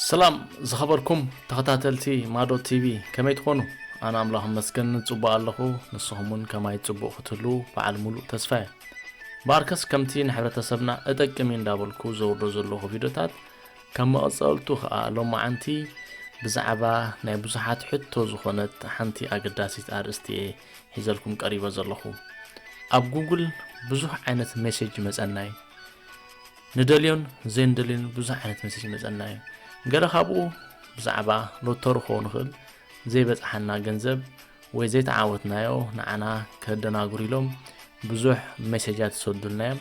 ሰላም ዝኸበርኩም ተኸታተልቲ ማዶ ቲቪ ከመይ ትኾኑ? ኣነ ኣምላኽ መስገን ጽቡቕ ኣለኹ ንስኹም እውን ከማይ ጽቡቕ ክትህልዉ በዓል ሙሉእ ተስፋ እየ ባርከስ ከምቲ ንሕብረተሰብና እጠቅም እዩ እንዳበልኩ ዘውርዶ ዘለኹ ቪድዮታት ከም መቐጸልቱ ኸኣ ሎማዓንቲ ብዛዕባ ናይ ብዙሓት ሕቶ ዝኾነት ሓንቲ ኣገዳሲት ኣርእስቲ እየ ሒዘልኩም ቀሪበ ዘለኹ። ኣብ ጉግል ብዙሕ ዓይነት ሜሴጅ ይመጸና እዩ። ንደልዮን ዘይንደልዮን ብዙሕ ዓይነት ሜሴጅ ይመጸና እዩ። ገለ ካብኡ ብዛዕባ ሎተሩ ክኸውን ይኽእል፣ ዘይበጽሓና ገንዘብ ወይ ዘይተዓወትናዮ ንዓና ከደናግሩ ኢሎም ብዙሕ ሜሴጃት ይሰዱልና እዮም።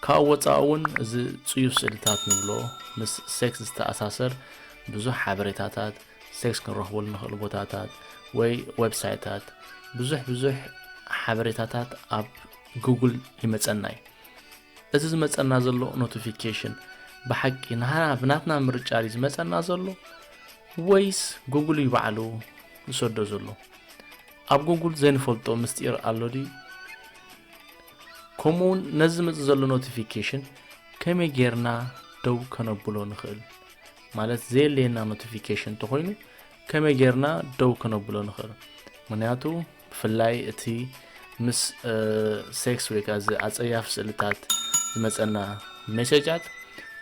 ካብኡ ወጻኢ እውን እዚ ጽዩፍ ስእልታት ንብሎ ምስ ሴክስ ዝተኣሳሰር ብዙሕ ሓበሬታታት ሴክስ ክንረኽበሉ ንኽእል ቦታታት ወይ ዌብሳይታት ብዙሕ ብዙሕ ሓበሬታታት ኣብ ጉግል ይመፀና እዩ እዚ ዝመፀና ዘሎ ኖቲፊኬሽን ብሓቂ ንሃና ብናትና ምርጫ ድዩ ዝመፀና ዘሎ ወይስ ጉግል እዩ ባዕሉ ዝሰዶ ዘሎ ኣብ ጉግል ዘይንፈልጦ ምስጢር ኣሎ ድዩ ከምኡ እውን ነዚ ዝመፅ ዘሎ ኖቲፊኬሽን ከመይ ጌርና ደው ከነብሎ ንኽእል ማለት ዘየለየና ኖቲፊኬሽን እንተኾይኑ ከመይ ጌርና ደው ክነብሎ ንኽእል ምክንያቱ ብፍላይ እቲ ምስ ሴክስ ወይ ከዓ እዚ ኣፀያፊ ስእልታት ዝመፀና ሜሴጃት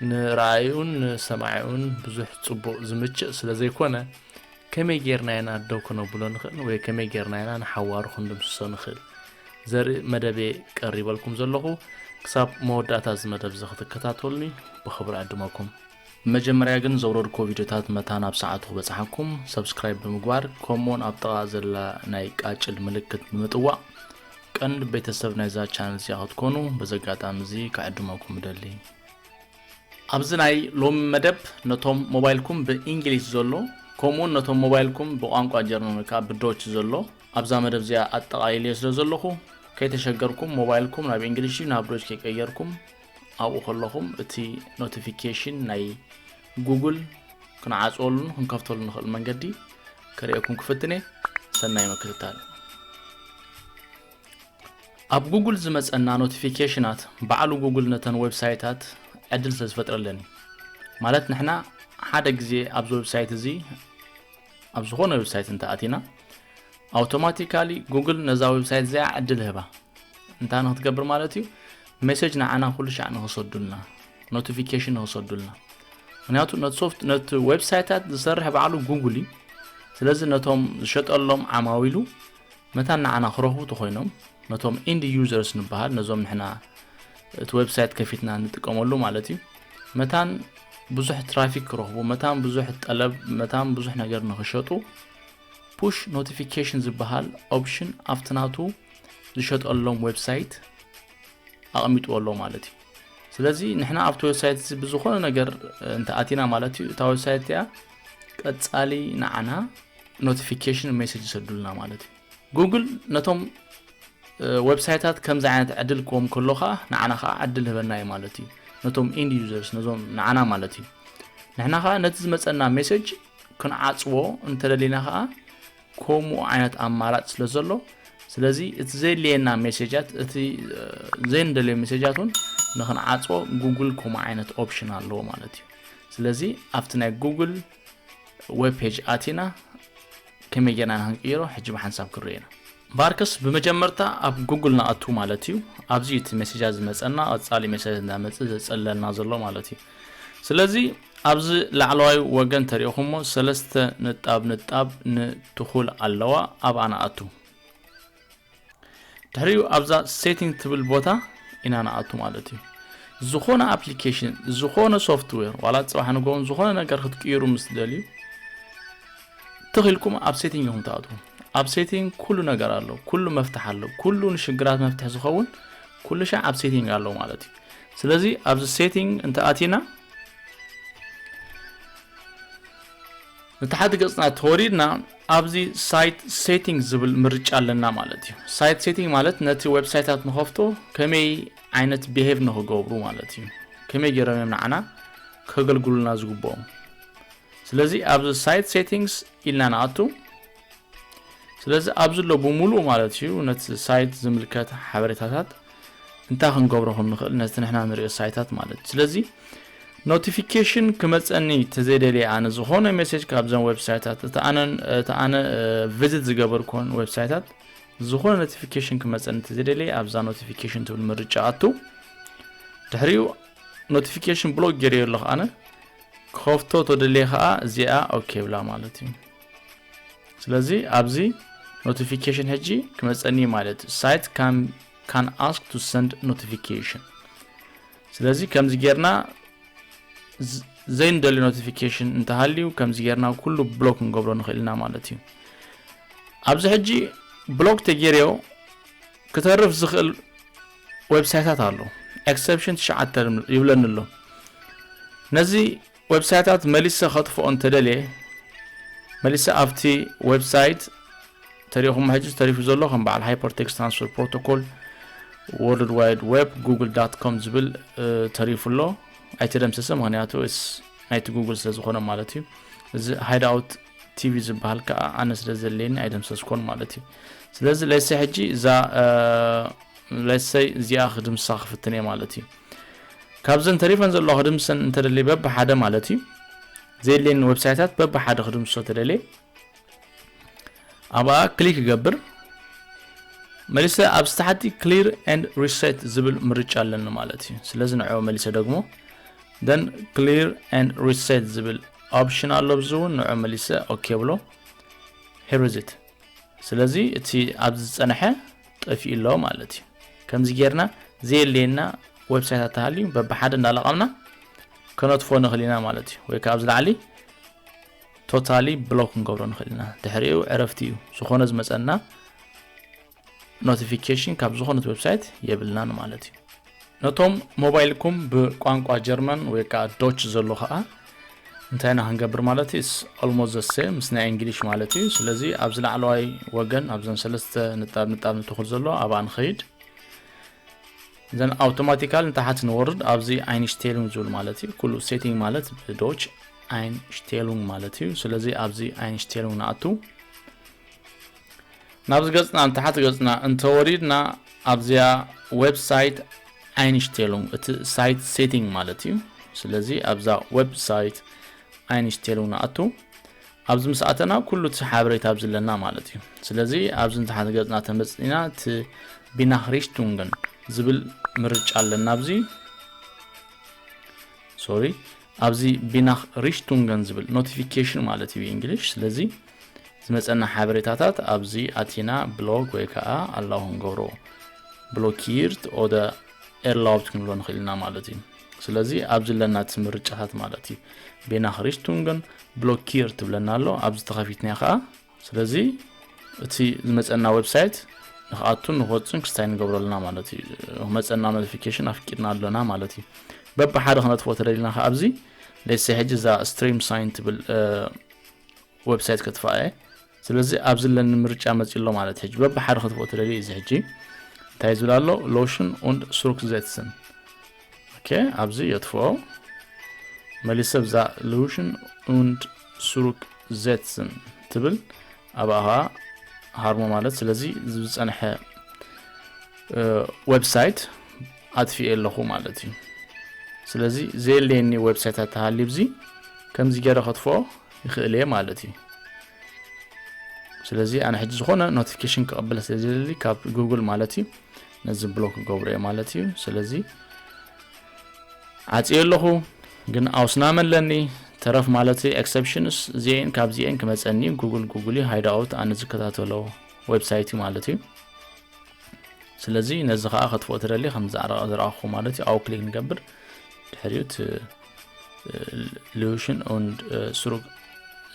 ንረኣዩን ንሰማዒኡን ብዙሕ ፅቡቅ ዝምችእ ስለ ዘይኮነ ከመይ ጌርና ኢና ደው ክነብሎ ንኽእል ወይ ከመይ ጌርና ኢና ንሓዋሩ ክንድምስሶ ንኽእል ዘርኢ መደብ ቀሪበልኩም ዘለኹ ክሳብ መወዳእታ እዚ መደብ እዚ ክትከታተሉኒ ብኽብሪ ዕድመኩም መጀመርያ ግን ዘውረድኩዎ ቪድዮታት መታን ኣብ ሰዓቱ ክበጽሓኩም ሰብስክራይብ ብምግባር ከምኡውን ኣብ ጥቓ ዘላ ናይ ቃጭል ምልክት ብምጥዋቕ ቀንዲ ቤተሰብ ናይዛ ቻነል እዚኣ ክትኮኑ በዚ ኣጋጣሚ እዚ ክዕድመኩም እደሊ ኣብዚ ናይ ሎሚ መደብ ነቶም ሞባይልኩም ብእንግሊዝ ዘሎ ከምኡውን ነቶም ሞባይልኩም ብቋንቋ ጀርመን ወይ ከዓ ብዶች ዘሎ ኣብዛ መደብ እዚኣ ኣጠቓሊልዮ ስለ ዘለኹ ከይተሸገርኩም ሞባይልኩም ናብ እንግሊሽ ናብ ዶች ከይቀየርኩም ኣብኡ ከለኹም እቲ ኖቲፊኬሽን ናይ ጉግል ክንዓፅወሉን ክንከፍተሉ ንኽእል መንገዲ ክርእየኩም ክፍትነ ሰናይ ምክትታል ኣብ ጉግል ዝመፀና ኖቲፊኬሽናት ባዕሉ ጉግል ነተን ዌብሳይታት ዕድል ስለ ዝፈጥረለን እዩ ማለት ንሕና ሓደ ግዜ ኣብዚ ዌብሳይት እዚ ኣብ ዝኾነ ዌብሳይት እንተኣቲና ኣውቶማቲካሊ ጉግል ነዛ ዌብሳይት እዚኣ ዕድል ህባ እንታይ ንክትገብር ማለት እዩ ሜሴጅ ንዓና ኩሉ ሻዕ ንክሰዱልና ኖቲፊኬሽን ንክሰዱልና ምክንያቱ ነቲ ሶፍት ነቲ ዌብሳይታት ዝሰርሕ ባዕሉ ጉግል እዩ ስለዚ ነቶም ዝሸጠሎም ዓማዊሉ መታን ንዓና ክረኽቡ ተኾይኖም ነቶም ኢንድ ዩዘርስ ንበሃል ነዞም ንሕና እቲ ዌብሳይት ከፊትና ንጥቀመሉ ማለት እዩ መታን ብዙሕ ትራፊክ ክረኽቡ መታን ብዙሕ ጠለብ መታን ብዙሕ ነገር ንክሸጡ ፑሽ ኖቲፊኬሽን ዝበሃል ኦፕሽን ኣብቲ ናቱ ዝሸጠሎም ዌብሳይት ኣቕሚጥዎ ኣሎ ማለት እዩ ስለዚ ንሕና ኣብቲ ዌብሳይት እዚ ብዝኾነ ነገር እንተኣቲና ማለት እዩ እታ ዌብሳይት እቲኣ ቀጻሊ ንዓና ኖቲፊኬሽን ሜሴጅ ይሰዱልና ማለት እዩ ጉግል ነቶም ዌብሳይታት ከምዚ ዓይነት ዕድል ክዎም ከሎ ከዓ ንዓና ከዓ ዕድል ህበና እዩ ማለት እዩ ነቶም ኢንድ ዩዘርስ ነዞም ንዓና ማለት እዩ ንሕና ከዓ ነቲ ዝመፀና ሜሴጅ ክንዓፅዎ እንተደሊና ከዓ ኮሙኡ ዓይነት ኣማራጭ ስለ ዘሎ ስለዚ እቲ ዘድልየና ሜሴጃት እቲ ዘይንደልዮ ሜሴጃት እውን ንክንዓፅቦ ጉግል ከምኡ ዓይነት ኦፕሽን ኣለዎ ማለት እዩ ስለዚ ኣብቲ ናይ ጉግል ዌብ ፔጅ ኣቲና ከመይ ጌርና ንክንቅይሮ ሕጂ ብሓንሳብ ክንሪኦ ኢና ቫርከስ ብመጀመርታ ኣብ ጉግል ንኣቱ ማለት እዩ ኣብዚ እቲ ሜሴጃት ዝመፀና ቀፃሊ ሜሴጃት እንዳመፅእ ዘፀለልና ዘሎ ማለት እዩ ስለዚ ኣብዚ ላዕለዋይ ወገን ተሪእኹሞ ሰለስተ ንጣብ ንጣብ ን ትኹል ኣለዋ ኣብኣ ንኣቱ። ድሕሪኡ ኣብዛ ሴቲንግ ትብል ቦታ ኢና ንኣቱ ማለት እዩ። ዝኾነ ኣፕሊኬሽን ዝኾነ ሶፍትዌር ዋላ ፅባሕ ንጎውን ዝኾነ ነገር ክትቅይሩ ምስ ትደልዩ ትኽኢልኩም ኣብ ሴቲንግ ኢኹም ትኣትዉ ኣብ ሴቲንግ ኩሉ ነገር ኣሎ ኩሉ መፍትሕ ኣሎ ኩሉ ንሽግራት መፍትሒ ዝኸውን ኩሉ ሻዕ ኣብ ሴቲንግ ኣሎ ማለት እዩ ስለዚ ኣብዚ ሴቲንግ እንተ ኣቲና ንታሕቲ ገጽና ተወሪድና ኣብዚ ሳይት ሴቲንግ ዝብል ምርጫ ኣለና ማለት እዩ ሳይት ሴቲንግ ማለት ነቲ ዌብሳይታት ንኸፍቶ ከመይ ዓይነት ብሄቭ ንክገብሩ ማለት እዩ ከመይ ገይሮም እዮም ንዓና ከገልግሉና ዝግብኦም ስለዚ ኣብዚ ሳይት ሴቲንግስ ኢልና ንኣቱ ስለዚ ኣብዚ ሎ ብምሉኡ ማለት እዩ ነቲ ሳይት ዝምልከት ሓበሬታታት እንታይ ክንገብሮ ከም ንኽእል ነቲ ንሕና ንሪኦ ሳይታት ማለት እዩ ስለዚ ኖቲፊኬሽን ክመፀኒ ተዘይደልየ ኣነ ዝኾነ ሜሴጅ ካብዘን ዌብሳይታት እቲ ኣነ ቪዚት ዝገበርኩን ዌብሳይታት ዝኾነ ኖቲፊኬሽን ክመፀኒ ተዘይደልየ ኣብዛ ኖቲፊኬሽን ትብል ምርጫ ኣቱ ድሕሪኡ ኖቲፊኬሽን ብሎክ ገይረዮ ኣለኹ ኣነ ክኸፍቶ ተደልየ ከዓ እዚኣ ኦኬ ብላ ማለት እዩ ስለዚ ኣብዚ ኖቲፊኬሽን ሕጂ ክመፀኒ ማለት እዩ ሳይት ካን ኣስክ ቱ ሰንድ ኖቲፊኬሽን ስለዚ ከምዚ ጌርና ዘይንደልዩ ኖቲፊኬሽን እንተሃልዩ ከምዚ ጌርና ኩሉ ብሎክ ክንገብሮ ንኽእል ኢና ማለት እዩ ኣብዚ ሕጂ ብሎክ ተጌርዮ ክተርፍ ዝኽእል ዌብሳይታት ኣሎ ኤክሰፕሽን ትሽዓተ ይብለኒ ኣሎ ነዚ ዌብሳይታት መሊሰ ከጥፍኦ እንተደልየ መሊሰ ኣብቲ ዌብሳይት ተሪኹም ሕጂ ተሪፉ ዘሎ ከም በዓል ሃይፐርቴክስ ትራንስፈር ፕሮቶኮል ወርልድ ዋይድ ዌብ ጉግል ዳት ኮም ዝብል ተሪፉ ኣሎ ኣይተደምሰሰ ምክንያቱ ናይቲ ጉግል ስለ ዝኾነ ማለት እዩ እዚ ሃይዳውት ቲቪ ዝበሃል ከዓ ኣነ ስለ ዘለየኒ ኣይደምሰስኮን ማለት እዩ ስለዚ ለሰይ ሕጂ እዛ ለሰይ እዚኣ ክድምሳ ክፍትን እየ ማለት እዩ ካብዘን ተሪፈን ዘለዋ ክድምሰን እንተደልየ በብሓደ ማለት እዩ ዘየድልየኒ ዌብሳይታት በብሓደ ክድምሶ ተደልየ ኣብኣ ክሊክ ይገብር መሊሰ ኣብ ዝተሓቲ ክሊር ኤንድ ሪሴት ዝብል ምርጫ ኣለኒ ማለት እዩ ስለዚ ንዕኦ መሊሰ ደግሞ ደን ክሊር ኤንድ ሪሴት ዝብል ኦፕሽን ኣሎ ብዚ እውን ንዕኦ መሊሰ ኦኬ ብሎ ሄርዝት ስለዚ እቲ ኣብዚ ዝጸንሐ ጠፊኡ ኣሎ ማለት እዩ ከምዚ ጌርና ዘየለየና ዌብሳይት ኣተሃልዩ በብሓደ እንዳለቐምና ከነጥፎ ንኽእል ኢና ማለት እዩ ወይ ካብ ዝላዕሊ ቶታሊ ብሎክ ክንገብሮ ንኽእል ኢና ድሕሪኡ ዕረፍቲ እዩ ዝኾነ ዝመፀና ኖቲፊኬሽን ካብ ዝኾነት ዌብሳይት የብልናን ማለት እዩ ነቶም ሞባይልኩም ብቋንቋ ጀርመን ወይ ከዓ ዶች ዘሎ ከዓ እንታይ ኢና ክንገብር ማለት እዩ ኦልሞስት ዘሰ ምስ ናይ እንግሊሽ ማለት እዩ ስለዚ ኣብዚ ላዕለዋይ ወገን ኣብዘን ሰለስተ ንጣብ ንጣብ ንትኹል ዘሎ ኣብኣ ንኸይድ ዘን ኣውቶማቲካል ንታሓት ንወርድ ኣብዚ ኣይንሽቴሉን ዝብል ማለት እዩ ኩሉ ሴቲንግ ማለት ብዶች ኣይንሽቴሉን ማለት እዩ ስለዚ ኣብዚ ኣይንሽቴሉን ንኣቱ ናብዚ ገጽና ንታሕቲ ገጽና እንተወሪድና ኣብዚኣ ዌብ ሳይት ኣይንሽቴሉንግ እቲ ሳይት ሴቲንግ ማለት እዩ ስለዚ ኣብዛ ዌብ ሳይት ኣይንሽቴሉንግ ንኣቱ ኣብዚ ምስ ኣተና ኩሉ እቲ ሓበሬታ ኣብዚ ኣለና ማለት እዩ ስለዚ ኣብዚ ንታሓት ገጽና ተመጽኒና እቲ ቢናክሪሽቱንግን ዝብል ምርጫ ኣለና ኣብዚ ሶሪ ኣብዚ ቢናክ ሪሽቱንገን ዝብል ኖቲፊኬሽን ማለት እዩ እንግሊሽ ስለዚ ዝመጸና ሓበሬታታት ኣብዚ ኣቲና ብሎክ ወይ ከዓ ኣላው ክንገብሮ ብሎኪርት ኦደ ኤርላውት ክንብሎ ንኽእል ኢና ማለት እዩ ስለዚ ኣብዚ ኣለና እቲ ምርጫታት ማለት እዩ ቤና ክሪስቱንግን ብሎኪር ትብለና ኣሎ ኣብዚ ተኸፊትና ከዓ ስለዚ እቲ ዝመፀና ዌብሳይት ንክኣቱን ንክወፅን ክስታይ ንገብሮ ኣለና ማለት እዩ ክመፀና ኖቲፊኬሽን ኣፍቂድና ኣሎና ማለት እዩ በብሓደ ክነጥፍኦ ተደሊና ከዓ ኣብዚ ለሰ ሕጂ እዛ ስትሪም ሳይን ትብል ወብሳይት ከጥፋኣ እየ ስለዚ ኣብዚ ኣለኒ ምርጫ መፂ ኣሎ ማለት ሕጂ በብሓደ ከጥፍኦ ትደልየ እዚ ሕጂ እንታይ ዝብል ኣሎ ሎሽን ኡንድ ሱሩክዘትስን ኦኬ ኣብዚ የጥፍኦ መሊሰ ብዛ ሎሽን ኡንድ ሱሩክ ዘትስን ትብል ኣብኣ ከዓ ሃርሞ ማለት ስለዚ ዝፀንሐ ዌብሳይት ኣትፊኤ ኣለኹ ማለት እዩ ስለዚ ዘየለየኒ ዌብሳይት ኣተሃልዩ ብዚ ከምዚ ገረ ከጥፍኦ ይኽእል እየ ማለት እዩ ስለዚ ኣነ ሕጂ ዝኾነ ኖቲፊኬሽን ክቕበለ ስለ ዝደሊ ካብ ጉግል ማለት እዩ ነዚ ብሎክ ክገብሮ እየ ማለት እዩ ስለዚ ዓፅየ ኣለኹ ግን ኣውስናመ ኣለኒ ተረፍ ማለት ኤክሰፕሽንስ እዚአን ካብዚአን ክመፀኒ ጉግል ጉግል እዩ ሃይዳኦት ኣነ ዝከታተሎ ዌብሳይት እዩ ማለት እዩ ስለዚ ነዚ ከኣ ከጥፍኦ ትደሊ ከምዚ ኣረቃ ዝረኣኹ ማለት እዩ ኣው ክሊክ ንገብር ድሕሪኡ እቲ ሉሽን ኡንድ ስሩግ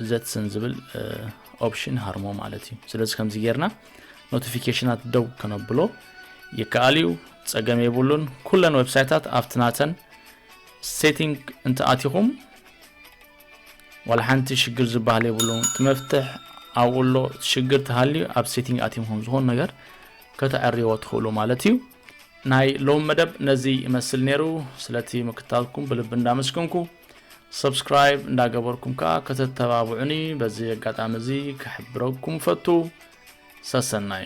ዘትስን ዝብል ኦፕሽን ሃርሞ ማለት እዩ ስለዚ ከምዚ ጌርና ኖቲፊኬሽናት ደው ከነብሎ ይከኣል እዩ ጸገም የብሉን ኩለን ዌብሳይታት ኣብቲ ናተን ሴቲንግ እንተኣቲኹም ዋላ ሓንቲ ሽግር ዝበሃል የብሉን እቲ መፍትሕ ኣብኡ ኣሎ ሽግር ተሃልዩ ኣብ ሴቲንግ ኣቲምኩም ዝኾኑ ነገር ከተዕርዎ ትኽእሉ ማለት እዩ ናይ ሎም መደብ ነዚ ይመስል ነይሩ ስለቲ ምክታልኩም ብልቢ እንዳመስገንኩ ሰብስክራይብ እንዳገበርኩም ከዓ ከተተባብዑኒ በዚ ኣጋጣሚ እዚ ክሕብረኩም ፈቱ ሰሰናዩ